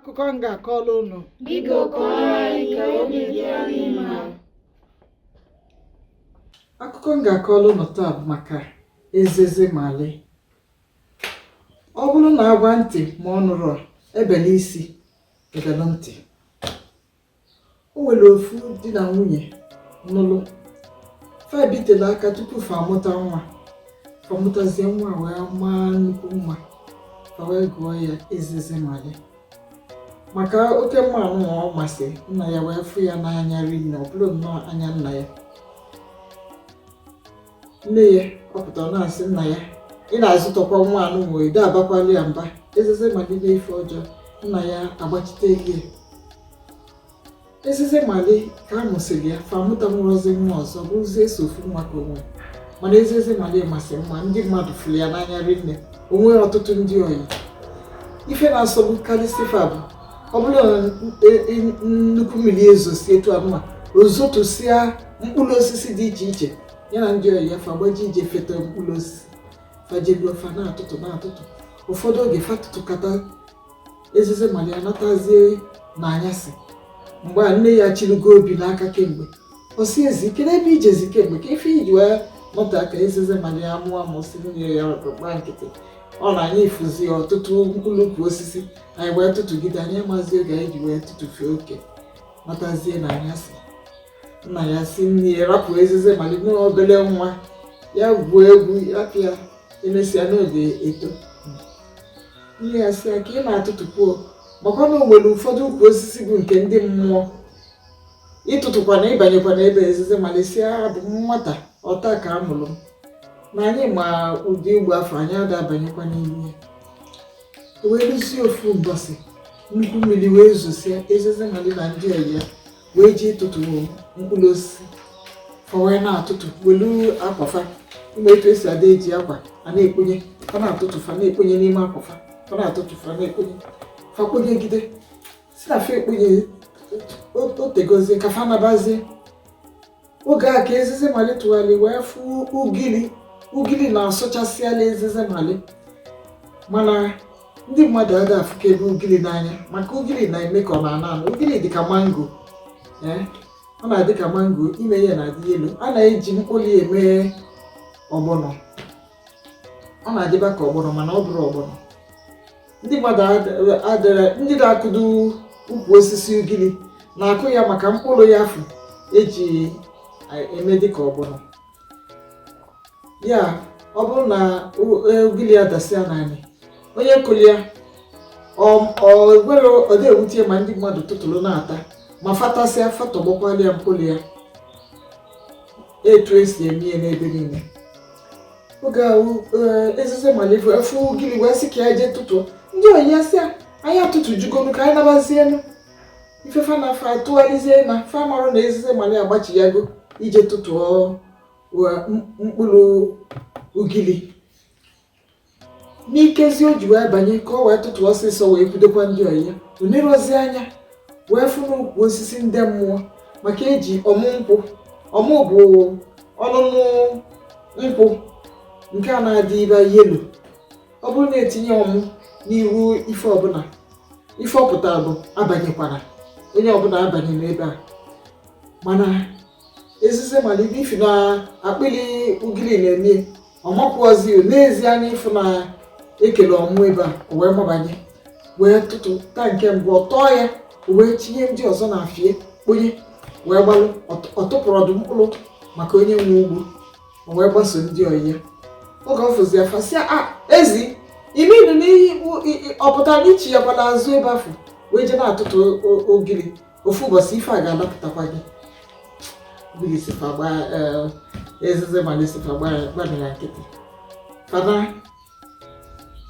akụkọ m ga-akọrọ unu Biko kọọrọ anyị ka obi dị anyị mma. akụkọ m ga-akọrọ unu taa bụ maka ezeze mali ọ bụrụ na a gwa ntị ma ọ nụrọ e belu isi e belu ntị o nwere ofu di na nwunye nụlụ fa ebitela aka tupu fa amụta nwa fa mụtazie nwa wee maa nnukwu mma fa wee gụọ ya ezeze mali maka oke mma anụnwa ọ masị nna ya wee fụ ya n'anya rinne ọ bụrụ nnọọ anya nna ya nne ya ọ pụta ọ na-asị nna ya ị na-azụtọkwa nwa anụnwa ị da-abakwalị ya mba ezeze mali mee ife ọjọọ nna ya agbachiteli ya ezeze mali ka a mụsịrị ya fa amụtanwurọzi nwa ọzọ bụrụzie sọ ofu nwa ka o nwe mana ezeze mali masị mma ndị mmadụ fụrụ ya n'anya rinne o nwere ọtụtụ ndị ọyị ife na-asọgbukarịsị fa bụ ọ bụrụ e, e, nnukwu mmiri ezosie etu anụnwa o zotusịa mkpụrụ osisi dị iche iche ya na ndị ọyị ya fa gbaje ije feta mkpụrụ osisi fa jeruo fa na-atụtụ na-atụtụ ụfọdụ oge fa tụtụkata ezeze mali anatazie n'anyasị mgbe a nne ya chịrịgo obi n'aka kemgbe ọ sị ezeze kee ebe i jezi kemgbe kee ife i ji wee nọtee aka ezeze mali amụọ amụ sị nne ya gbaa nkịtị ọ na anyị fụzi ọtụtụ mkpụrụ ukwu osisi anyị wee tụtụgide anyị amazi oge anyị ji wee tụtụfee oke natazie n'anyasị nna ya sị nne ya rapụ ezeze mali na ọ obere nwa ya gwuo egwu rapụ ya emesịa na ọ ga-eto nne ya sị ya ka ị na-atụtụkwuo makwa na o nwere ụfọdụ ukwu osisi bụ nke ndị mmụọ ị tụtụkwana ị banyekwana ebe ezeze mali sị ya abụ m nwata ọ taa ka a mụrụ m na anyị ma ụdị ebe afụ anyị ada abanyekwa n'ime ya o wee luzie ofu mbọsị nnukwu mmiri wee zosịa ezeze mali na ndị ọyị ya wee jee ịtụtụ mkpụrụ osisi fa wee na-atụtụ welu akwa fa ị ma etu e si ada eji akwa a na-ekponye fa na-atụtụ fa na-ekponye n'ime akwa fa fa na-atụtụ fa na-ekponye fa kponyegide sị na fa ekponye o tegozie ka fa nabazie oge a ka ezeze mali tụgharị wee fụ ugili ugili na-asọchasịala ezeze mali mana ndị mmadụ ada afụkebe ugili n'anya maka ugili na-eme ka ọ na-ana anụ ugili dị ka mango ee ọ na-adị ka mango ime ya na-adị yellow a na-eji mkpụrụ ya eme ọgbọnọ ọ na-adịba ka ọgbọnọ mana ọ bụrọ ọgbọnọ ndị mmadụ adịrị ndị na-akụdo ukwu osisi ugiri na-akụ ya maka mkpụrụ ya afụ eji eme dịka ọgbọnọ ya ọ bụrụ na e, ugiri ya dasịa n'anị onye kụrụ ya ọgwere ọ da ewute ya ma ndị mmadụ tụtụrụ na-ata ma fa tasịa fa tọgbọkwalụ ya mkpụrụ ya etu esi eme ya n'ebe niile oge ahụ eh, ezize mali fụ ugili wee sị ka ya jee tụtụ ndị ọyị ya sị ya anyị atụtụjugonu ka anyị nabazienu ife fa na fa atụgharịzie na fa marụ na ezize mali agbachiyago ije tụtụọ mkpụrụ ugili n'ikezi o ji wee banye ka o wee tụtụ ọsịsọ wee kwudokwa ndị ọyị ya o nerọzi anya wee fụ n'ukwu osisi ndị mmụọ maka eji ọmụ nkwụ ọmụ bụ ọnụnụ nkwụ nke a na-adịba yellow ọ bụrụ na etinye ọmụ n'ihu ife ọbụla ife ọ pụta bụ abanyekwana onye ọbụla abanyena ebe a mana ezize mali ifi na akpịrị ugiri na-eme ọ makwuozi nezie anya ịfụ na ekelụ ọmụ ebe a o wee mabanye wee tụtụ taa nke mbụ ọ tọọ ya o wee tinye ndị ọzọ n'afe ya kponye wee gbalụ ọ tụpụrọ ofu mkpụrụ maka onye nwe ugbo o wee gbaso ndị ọyị ya oge ọ fụzi ya fa sị ya ezi i melu gịnị ọ pụtara i chiyakwara azụ ebe afụ wee jee na-atụtụ ugiri ofu ụbọchị ife a ga-alapụtakwa gị eh, ezize mali sị fa gbara ya nkịtị ka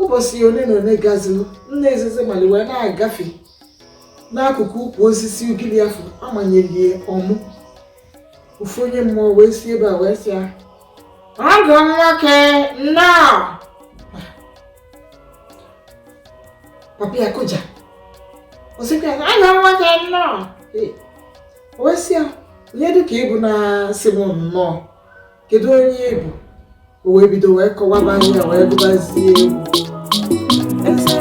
ụbọchị ole na ole gaziri nna ezize mali wee na-agafe n'akụkụ ukwu osisi ugiri afụ amanyelụ ya ọmụ ofu onye mmụọ wee si ebe a wee sị ya ọgọ nwoke nnọọ papa ya kụja o sịkwa ya ọgọ nwoke nnọọ o wee sị ya onye dụ ka ị bụ na-asị m nnọọ kedu onye ị bụ o wee bido wee kọwaba onwe ya wee gụbazie egwu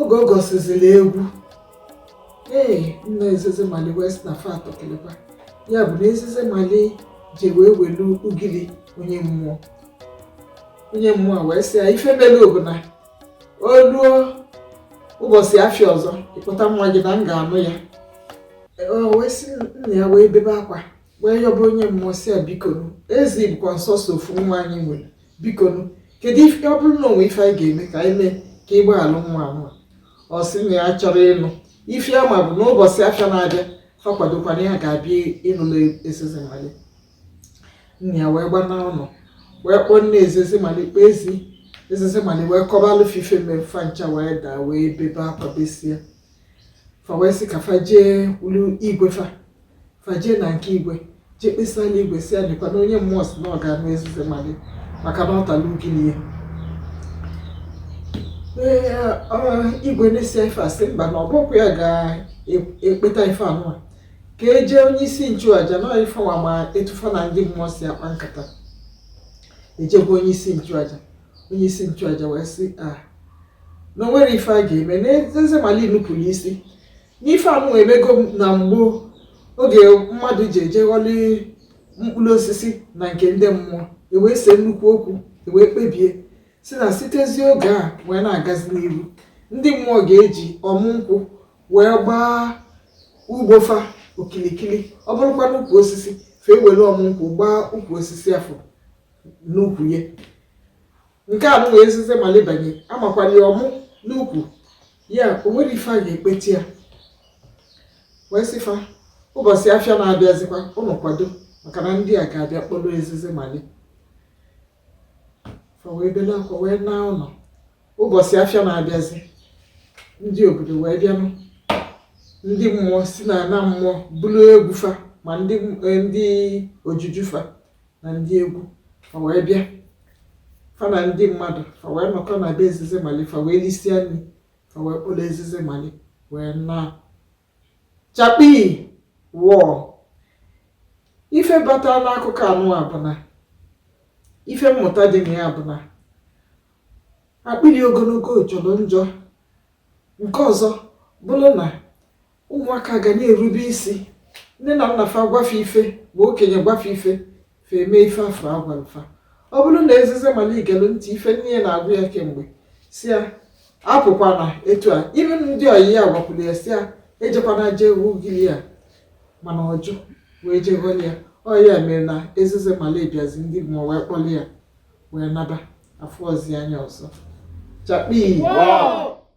oge ọ gụsịziri egwu ee nna ezeze mali wee sị na fa tọ keleba ya bụ na ezeze mali ji wee welu ugiri onye mmụọ onye mmụọ wee sị ya ife mere bụ na o ruo ụbọchị afịa ọzọ ị kpọta nwa gị na m ga-anụ ya o wee sị nna ya wee bebe akwa wee yọba onye mmụọ sị ya bikonu ezi bụkwa nsọsọ ofu nwa anyị nwere biko kedu ife ọ bụrụ na o nwe ife anyị ga-eme ka anyị mee ka ị gbaalụ nwa anwa ọ sị na ya achọrọ ịnụ ife ya ma bụ n'ụbọchị afịa na-abịa fa kwadokwa na ya ga-abịa ịnụlụ ezezimali nna ya wee gbana ụlọ wee kpọọ nne ezezimali kpọọ ezi ezezimali wee kọbalụ fa ife mere fa ncha wee daa wee bebe akwa besịa fa wee sị ka fa jee ulu igwe fa fa je na nke igwe jee kpesala igwe sị ya lekwa na onye mmụọ si na ọ ga-anụ ezize mali maka na ọ tala ugili ya igwe nụsịa ife a sị mba na ọ bụkwa ya ga-ekpeta ife anụwa ka e je onye isi nchụaja na fa nwa ma etu fa na ndị mmụọ si akpa nkata e je gwa onye isi nchụaja onye isi nchụaja wee sị fa na o nwere ife a ga-eme na ezize mali nupụrụ isi n'ife anụwa emego na mgbo oge mmadụ ji eje ghọli mkpụrụ osisi na nke ndị mmụọ e wee see nnukwu okwu e wee kpebie sị na sitezi oge a wee na-agazi n'iru ndị mmụọ ga-eji ọmụ nkwụ wee gbaa ugbo fa okilikili ọ bụrụkwa n'ukwu osisi fa ewere ọmụ nkwụ gbaa ukwu osisi afụ n'ukwu ya nke anụwa ezize mali banye amakwala ya ọmụ n'ukwu ya o nwere ife a ga-ekpeta ya wee sị fa ụbọchị afịa na-abịazikwa unu kwado maka na ndị a ga-abịa kpọrọ ezizi mali fa wee bele akwa wee naa ụlọ ụbọchị afịa na-abịazi ndị obodo wee bịanụ ndị mmụọ si n'ana mmụọ buru egwu fa ma ndị eh, ndị ojuju fa na ndị egwu fa wee bịa fa na ndị mmadụ fa wee nọkọ na be ezizi mali fa wee lisịa nri fa wee kpọrọ ezizi mali wee naa chakpii wọọ ife bata n'akụkọ anụwa bụ na ife mmụta dị na ya bụ na akpịrị ogologo jọrọ njọ nke ọzọ bụrụ na ụmụaka ga na-erube isi nne na nna fa gwa fa ife ma okenye gwa fa ife fa eme ife afụ a gwalụ fa ọ bụrụ na ezize mali gelu ntị ife nne ya na-agwa ya kemgbe si ya apụkwana etu a ime ndị ọyị ya gwakwuru ya si ya ejekwana jee ugili ya mana ọ jụ wee jee ghọli ya ọ ya mere na ezize mali bịazi ndị mmụọ wee kpọli ya wee naba afụrọzi anya ọzọ chakpii